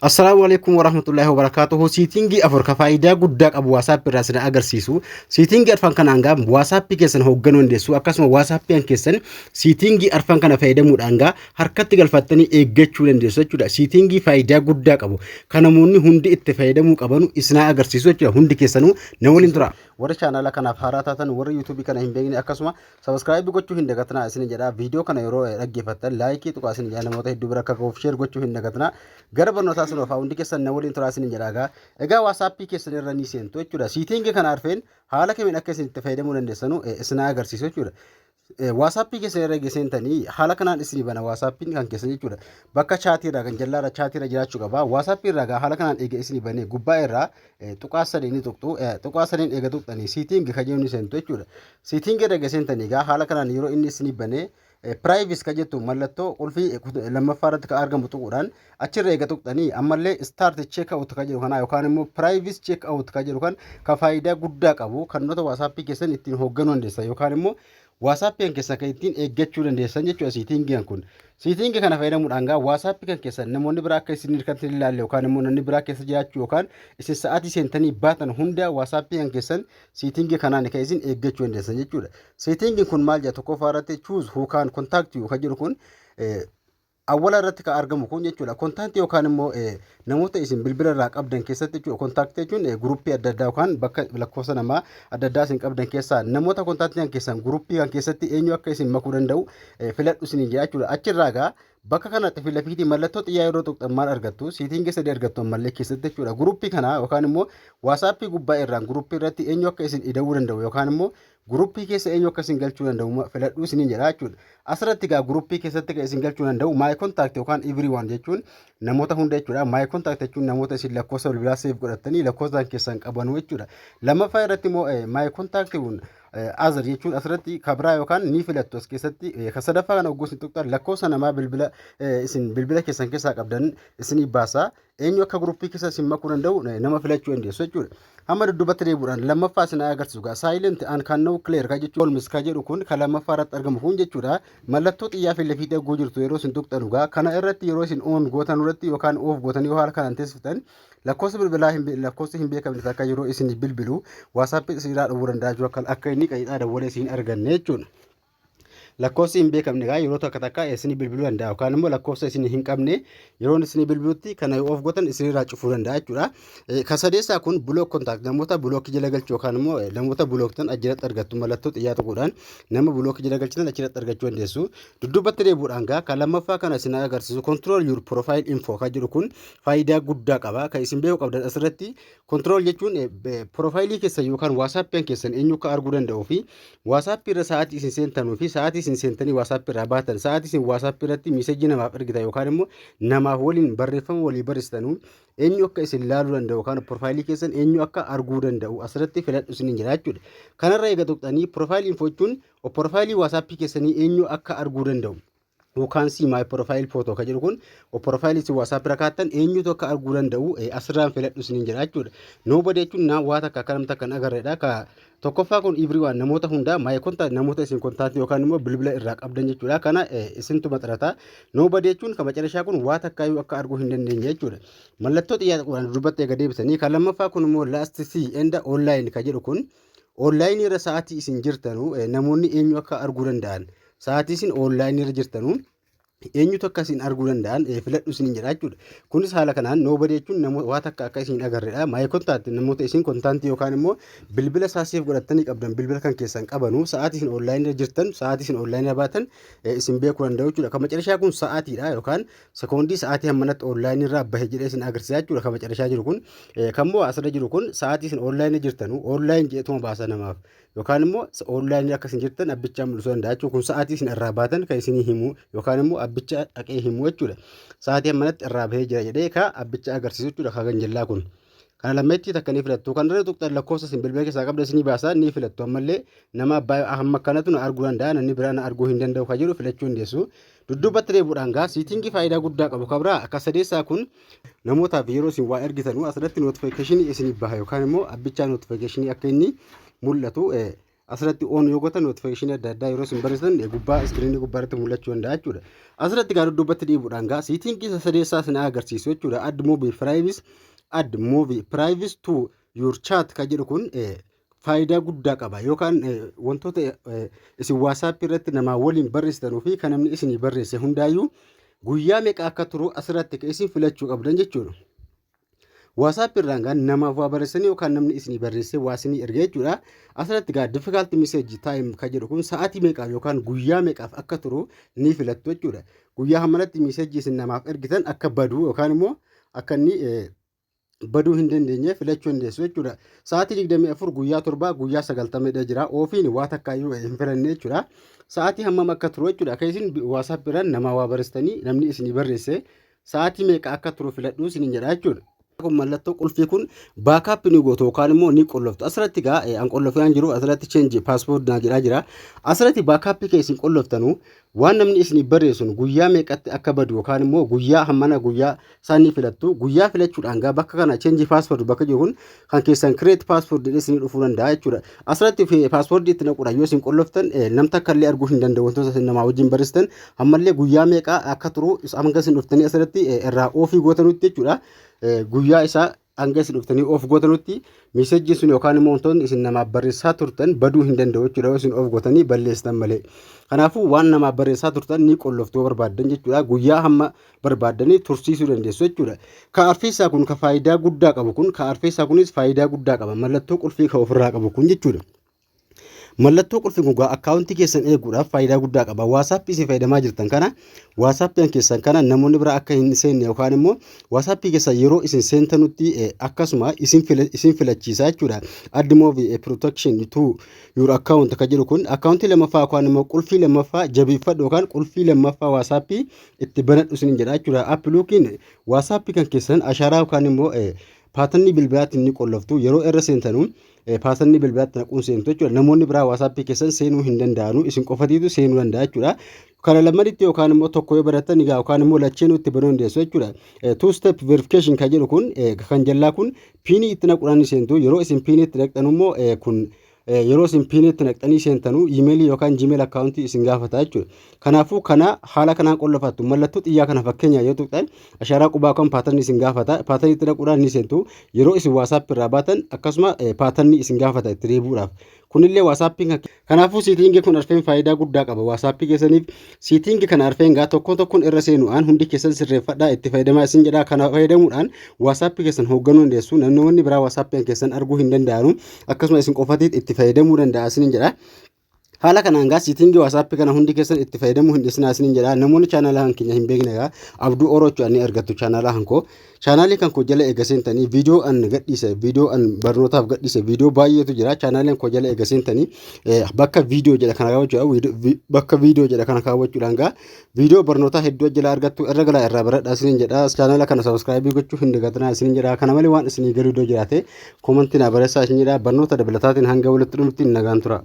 Assalaamu alaikum warahmatullahi wabarakatuhu. Siitingii afur ka faayidaa guddaa qabu WhatsApp irraa isin agarsiisu. Siitingii arfan kana hangaa WhatsApp keessan hoogganuu dandeessu. Akkasuma WhatsApp keessan siitingii arfan kana fayyadamuudhaan hangaa harkatti galfattanii eeggachuu dandeessu jechuudha. Siitingii faayidaa guddaa qabu. Kan namoonni hundi itti fayyadamuu qabanu isin agarsiisu jechuudha. Hundi keessanuu na waliin tura. Warri chaanaala kanaaf haaraa taatan warri YouTube kana hin beekne akkasuma Sabiskiraayib gochuu hin dagatinaa isin jedha. Viidiyoo kana yeroo dhaggeeffattan laayikii tuqaa isin jedha namoota hedduu bira akka gahuuf sheer gochuu hin dagatinaa. Gara barnootaa sun ofaa hundi keessan na waliin turaa isin jedha egaa. Egaa waasaappii keessan irra ni seentu jechuudha. Siitingi kana arfeen haala kamiin akka isin itti fayyadamuu dandeessanu isin agarsiisu jechuudha. Waasaappii keessan irra geessentanii haala kanaan isin bana waasaappiin kan keessan jechuudha. Bakka chaatii irraa kan jallaarra chaatii irra jiraachuu qaba. Waasaappii irraa egaa haala kanaan eega isin banee gubbaa irraa tuqaa sadii ni tuqxu. Tuqaa sadiin eega tuqxanii siitingi ka jedhu ni seentu jechuudha. Siitingi erga seentanii egaa haala kanaan yeroo inni isinii banee piraayivis ka jettu mallattoo qulfii lammaffaa irratti ka argamu tuquudhaan achirra eega tuqxanii ammallee istaart cheek awut ka jedhu kanaa yookaan immoo piraayivis cheek awut ka jedhu kan ka faayidaa guddaa qabu kan nota waasaappii keessan ittiin hoogganuu dandeessan yookaan immoo WhatsApp'n keessan kan ittiin eeggachuu dandeessan jechuudha siitingiin kun. Siitingi kana fayyadamuudhaan gaa WhatsApp kan keessan namoonni biraa akka isin kan hin ilaalle yookaan immoo namni biraa keessa jiraachuu yookaan isin sa'aatii seentanii baatan hunda WhatsApp kan keessan siitingi kanaan kan isin eeggachuu dandeessan jechuudha. Siitingiin kun maal jedha tokkoffaa irratti choose who can contact you kan jedhu kun Awwala irratti kan argamu kun jechuudha kontaantii yookaan immoo namoota isin bilbila irraa qabdan keessatti jechuudha kontaaktii jechuun guruppii adda addaa yookaan bakka lakkoofsa namaa adda addaa isin qabdan keessaa namoota kontaaktii kan keessan guruppii kan keessatti eenyu akka isin makuu danda'u filadhu isin jedha jechuudha achirraa egaa bakka kanatti fi lafiitii mallattoo xiyyaa yeroo tuqxan maal argattu siitiin sadii argattu ammallee keessatti jechuudha guruppii kana yookaan immoo waasaappii gubbaa irraan guruppii irratti eenyu akka isin ida'uu danda'u yookaan immoo Guruppii keessa eenyu akka isin galchuu danda'u filadhuu isiniin jedha jechuudha. Asirratti egaa guruppii keessatti kan isin galchuu danda'u my contact yookaan everyone jechuun namoota hunda jechuudha. My contact jechuun namoota isin lakkoofsa bilbilaa seef godhattanii lakkoofsa keessan qabanu jechuudha. Lammaffaa irratti immoo my contact azar jechuun asirratti kabraa yookaan ni filattu as keessatti kan sadaffaa kana ogguus hin tuqxan lakkoofsa namaa bilbila isin bilbila keessan keessaa qabdan isinii baasa. eenyu akka guruppii keessa isin makuu danda'u nama filachuu dandeessu jechuudha. Amma dudduubatti deebi'uudhaan lammaffaa isin agarsiisu gaa silent and can now clear ka jechuun olmis ka jedhu kun ka lammaffaa irratti argamu kun jechuudha. Mallattoo xiyyaa fi lafiitti arguu jirtu yeroo isin tuqxanu gaa kana irratti yeroo isin on gootan irratti yookaan oof gootan yoo haala kanaan teessiftan lakkoofsa bilbilaa hin lakkoofsa hin beekamne takka yeroo isin bilbilu waasaappii isin irraa dhowwuu danda'a jechuudha akka inni qajeelaa dawwalee isin arganne jechuudha. Lakkoofsi hin beekamne gaa yeroo takka takka isinii bilbiluu danda'a yookaan immoo lakkoofsa isin hin qabne yeroon isinii bilbilutti kana yoo of gootan isinirraa cufuu danda'a jechuudha. Eh, Kan sadeessaa kun block contact namoota block jala galchu yookaan immoo eh, namoota blocktan achirratti argattu mallattoo xiyyaa tokkodhaan nama block jala galchitan achirratti argachuu dandeessu. Dudduubatti deebi'uudhaan gaa kan lammaffaa kana isin agarsiisu control your profile info kan jedhu kun faayidaa guddaa qaba. Kan isin beekuu qabdan asirratti Control jechuun piroofaayilii keessan yookaan waasaappii keessan eenyu akka arguu danda'uu fi waasaappii irra sa'aatii isin seentanuu fi sa'aatii isin seentanii waasaappii irraa baatan sa'aatii isin waasaappii irratti miisejii namaaf ergitan yookaan immoo namaaf waliin barreeffama walii barreessitanuu eenyu akka isin laaluu danda'u yookaan piroofaayilii keessan eenyu akka arguu danda'u asirratti filadhu isiniin jira jechuudha. Kanarra eega tuqxanii piroofaayilii info jechuun piroofaayilii waasaappii keessanii eenyu akka arguu danda'u You can see my profile photo ka jedhu kun profile isin WhatsApp irra kaattan eenyutu akka arguu danda'u eh, asirraan filadhu isiniin jedha jechuudha. Nobody jechuun na waa takka akka namni takka hin agarredha. Ka tokkoffaa kun everyone namoota hundaa my contact namoota isin contact yookaan immoo bilbila irraa qabdan jechuudha. Kana eh, isintu maxxanata. Nobody jechuun ka macarashaa kun waa takka iyyuu akka arguu hin dandeenye jechuudha. Mallattoo xiyyaata qubaan dubbatti eega deebisanii kan lammaffaa kun immoo last see and online ka jedhu kun online irra sa'aatii isin jirtanu eh, namoonni eenyu akka arguu danda'an Sa'aatii isin online irra jirtanu eenyutu akka isin arguu danda'an eh, filadhu isin jedha jechuudha. Kunis haala kanaan nobody jechuun namoota waa takka akka isin agarredha. My contact namoota isin kontaantii yookaan immoo bilbila isaa siif godhattanii qabdan bilbila kan keessan qabanu sa'aatii isin online irra jirtan sa'aatii isin online irra baatan eh, isin beekuu danda'u jechuudha. Kan macarashaa kun sa'aatiidha yookaan sekoondii sa'aatii hammanatti online irraa bahe jedhee isin agarsiisa jechuudha. Kan macarashaa jiru kun eh, kan moo asirra jiru kun sa'aatii isin online irra jirtanu online jedheetuma baasa namaaf. yookaan immoo oonlaayinii akka isin jirtan abbichaan mul'isuu danda'a jechuudha. Kun sa'aatii isin irraa baatan kan isinii himu yookaan immoo abbicha dhaqee himu jechuudha. Sa'aatii ammanatti irraa bahee jira jedhee ka abbicha agarsiisu jechuudha ka ganjallaa kun. Kana lammeetti takka ni filattu. Kan irra tuqxan lakkoofsa isin bilbila keessaa qabda isinii baasaa ni filattu. Ammallee nama abbaa hamma kanatu na arguu danda'a namni biraa na arguu hin danda'u kan jedhu filachuu dandeessu. Dudduubatti deebi'uudhaan gaa siitingii faayidaa guddaa qabu kan biraa akka sadeessaa kun namootaaf yeroo isin waa ergitanu asirratti notifikashinii isiniif baha yookaan immoo abbichaa notifikashinii akka inni mul'atu asirratti oon yoo gotan notifikashinii adda addaa yeroo isin barreessitan gubbaa iskiriinii gubbaa irratti mul'achuu danda'a jechuudha. Asirratti gaa dudduubatti deebi'uudhaan gaa siitingii isa sadeessaa isin agarsiisu jechuudha. Add movie privacy add movie privacy to your chat kan jedhu kun faayidaa guddaa qaba yookaan wantoota isin waasaappii irratti namaa waliin barreessitanuu fi kan namni isinii barreesse hundaayyuu guyyaa meeqa akka turu asirratti ka isin filachuu qabdan jechuudha. Waasaappii irraan gaa namaaf waa barreessanii yookaan namni isinii barreessee waa isinii erga jechuudha. Asirratti gaa difficult message time ka jedhu kun sa'aatii meeqaaf yookaan guyyaa meeqaaf akka turu ni filattu jechuudha. Guyyaa hammaratti message isin namaaf ergitan akka badu yookaan immoo akka inni baduu hin dandeenye filachuu hin dandeessu jechuudha. Sa'aatii 24 guyyaa 7 guyyaa 90 dha jira. Ofiin waa takka iyyuu hin filanne jechuudha. Sa'aatii hammam akka turu jechuudha. Akka isin WhatsApp irraan namaa waa barreessitanii namni isinii barreesse sa'aatii meeqa akka turu filadhuu isiniin jedha jechuudha. kun mallattoo qulfii kun baakaappi ni gootu yookaan immoo ni qolloftu asirratti egaa an qollofee an jiru asirratti cheenji paaspoorti naa jedhaa jira asirratti baakaappii kee isin qolloftanu Waan namni isiniif barreessu sun guyyaa meeqatti akka badu yookaan immoo guyyaa hammana guyyaa isaan ni filattu. Guyyaa filachuudhaan gaa bakka kana change password bakka jiru kun kan keessan create password jedhee isinii dhufuu danda'a jechuudha. Asirratti fi- password itti naquudhaan yoo isin qolloftan eh, nam takka illee arguu hin danda'u wantoota isin namaa wajjin barreessitan ammallee guyyaa meeqa akka turu is- hanga isin dhuftanii asirratti eh, irraa oofii gootanutti jechuudha. Eh, Guyyaa isaa hanga isin dhuftanii of gootanutti miisejjiin sun yookaan immoo wantoonni isin namaaf barreessaa turtan baduu hin danda'u jechuudha yoo isin of gootanii balleessitan malee. Kanaafuu waan namaaf barreessaa turtan ni qolloftuu barbaaddan jechuudha guyyaa hamma barbaaddanii tursiisuu dandeessu jechuudha. Ka arfeessaa kun ka faayidaa guddaa qabu kun ka arfeessaa kunis faayidaa guddaa qaba mallattoo qulfii ka ofirraa qabu kun jechuudha. Mallattoo qulfi gogaa akkaawuntii keessan eeguudhaaf faayidaa guddaa qaba. Waasaappii isin fayyadamaa jirtan kana waasaappiin keessan kana namoonni biraa akka hin seenne yookaan immoo waasaappii keessan yeroo isin seentanutti eh, akkasuma isin fila- isin filachiisa jechuudha. Add move eh, protection to your account kan jedhu kun akkaawuntii lammaffaa yookaan immoo qulfii lammaffaa jabeeffadhu yookaan qulfii lammaffaa waasaappii itti banadhu isin jedha jechuudha. App lookiin waasaappii kan keessan ashaaraa yookaan immoo eh, paatannii bilbilaatiin ni qolloftu yeroo irra seentanu Paasanni bilbilaatti naquun seentu jechuudha. Namoonni biraa waasaappii keessan seenuu hin danda'anu. Isin qofatiitu seenuu danda'a jechuudha. Kana lammanitti yookaan immoo tokko yoo barattan egaa yookaan immoo lacheenuu itti banuu dandeessu jechuudha. Two step verification kan jedhu kun kan jallaa kun piinii itti naquudhaan ni seentu. Yeroo isin piinii itti naqxan immoo kun yeroo isin piinii itti naqxanii seentanu iimeelii yookaan jiimeel akkaawuntii isin gaafata jechuudha. Kanaafuu kana haala kanaan qollofattu. Mallattoo xiyyaa kana fakkeenyaa yoo tuqxan ashaaraa qubaa kan paatarni isin gaafata. Paatarni itti dhaquudhaan ni seentu. Yeroo isin waasaap irraa baatan akkasuma paatarni isin gaafata itti deebi'uudhaaf. Kunillee waasaappiin kan Kanaafuu siitiingi kun arfeen faayidaa guddaa qaba waasaappii keessaniif. Siitiingi kana arfeen gaa tokkoon tokkoon irra seenuudhaan hundi keessan sirreeffadhaa itti fayyadamaa isin jedhaa kana fayyadamuudhaan waasaappii keessan hoogganuu dandeessu. Namoonni biraa waasaappiin keessan arguu hin danda'anu. Akkasuma isin qofatiit itti fayyadamuu danda'a isin jedha. Haala kanaan gaa siitingii waasaappi kana hundi keessan itti fayyadamuu hin dhiisinaa isiniin jedha. Namoonni chaanaalaa kan keenya hin beekne gaa abduu oroo jechuudhaan ni argattu chaanaalaa kan koo. Chaanaalii kan koo jala eega seentanii viidiyoo an gadhiise viidiyoo an barnootaaf gadhiise viidiyoo baay'eetu jira. Chaanaaliin koo jala eega seentanii bakka viidiyoo jedha kana kaawwachuudhaan bakka viidiyoo jedha kana kaawwachuudhaan gaa viidiyoo barnootaa hedduu jala argattu irra galaa irraa baradhaa isiniin jedha. Chaanaala kana sabiskiraayibii gochuu hin dagatinaa isiniin jedha. Kana malee waan isinii galuu doo jiraate koomantii naa barreessaa isiniin jedha. Barnoota dabalataatiin hanga walitti dhufnutti nagaan tura.